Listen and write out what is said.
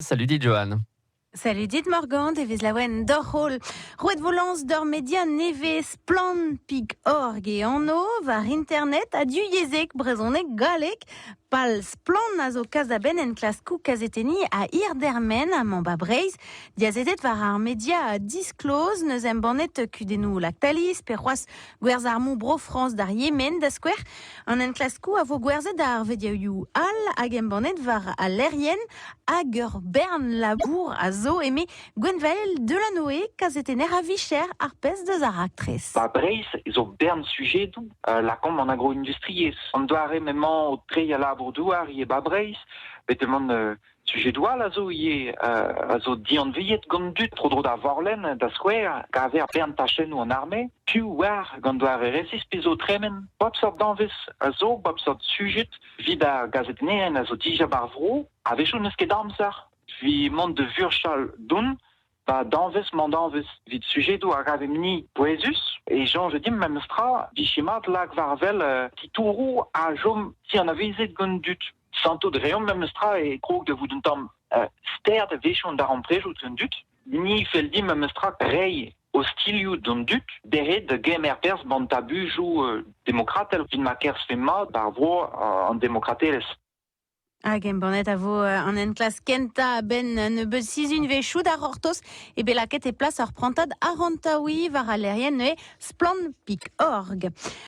Salut dit, Johan. Salut dit Morgant, e vez laouen doc'h-holl. Roet vo lañs d'ur media nevez splann.org e anv war internet ha du yezhek, brezhoneg, galleg. Pal Splann a zo kas da benn enklaskou kazetenni a Irdermen ha Mamba Breizh. Diazetet war ar media a disklozh, neus embannet kudennoù Lactalis pe c'hoazh Gwerzh armoù Bro-Frañs d'ar Yemen, da skouer. An enklaskoù a vo gwerzhet ar vediaoù all hag embannet war al lec'hienn hag ur bern labour a zo, eme Gwenvael Delanoe, kazetenner a vicher ar pezh deus ar raktres. Ba Breizh zo bern sujedoù euh, lakaomp an agroindustriezh. An doare m'emañ o treiñ al labour-douar ivez ba Breizh, bet deman euh, Sujedoù all a zo ivez a zo dianviet gant dud tro-dro d'ar Vorlenn, da skouer, kaver ar bern tachennoù an arme, piv oar gant doare resis pe zo tremen. Bep seurt danvez a zo, bep seurt sujed evit ar gazetennerien a zo dija ba'r vro. A-wechoù n'eus ket amzer evit mont da vurchal don Pa danvez mandanvez evit sujedoù a ravemp-ni pouezus e soñj dimp memestra vije mat lak war wel titouroù a chom ti anavezet gant an dud. Santout reomp memestra e krog da vout un tamm ster da wechoù darempredoù gant an dud. Ni fell dimp memestra reiñ ostilhoù d'an dud dezhe da gemer perzh ban tabujoù demokratel evit ma kerzhfe mat ar vro an demokratelezh. Hag embannet a vo euh, an enklask kentañ a-benn un nebeud sizhunvezhioù da c'hortoz eo bet lakaet e plas ur prantad arantaouiñ war al lec'hienn neuze Splann Pik Org.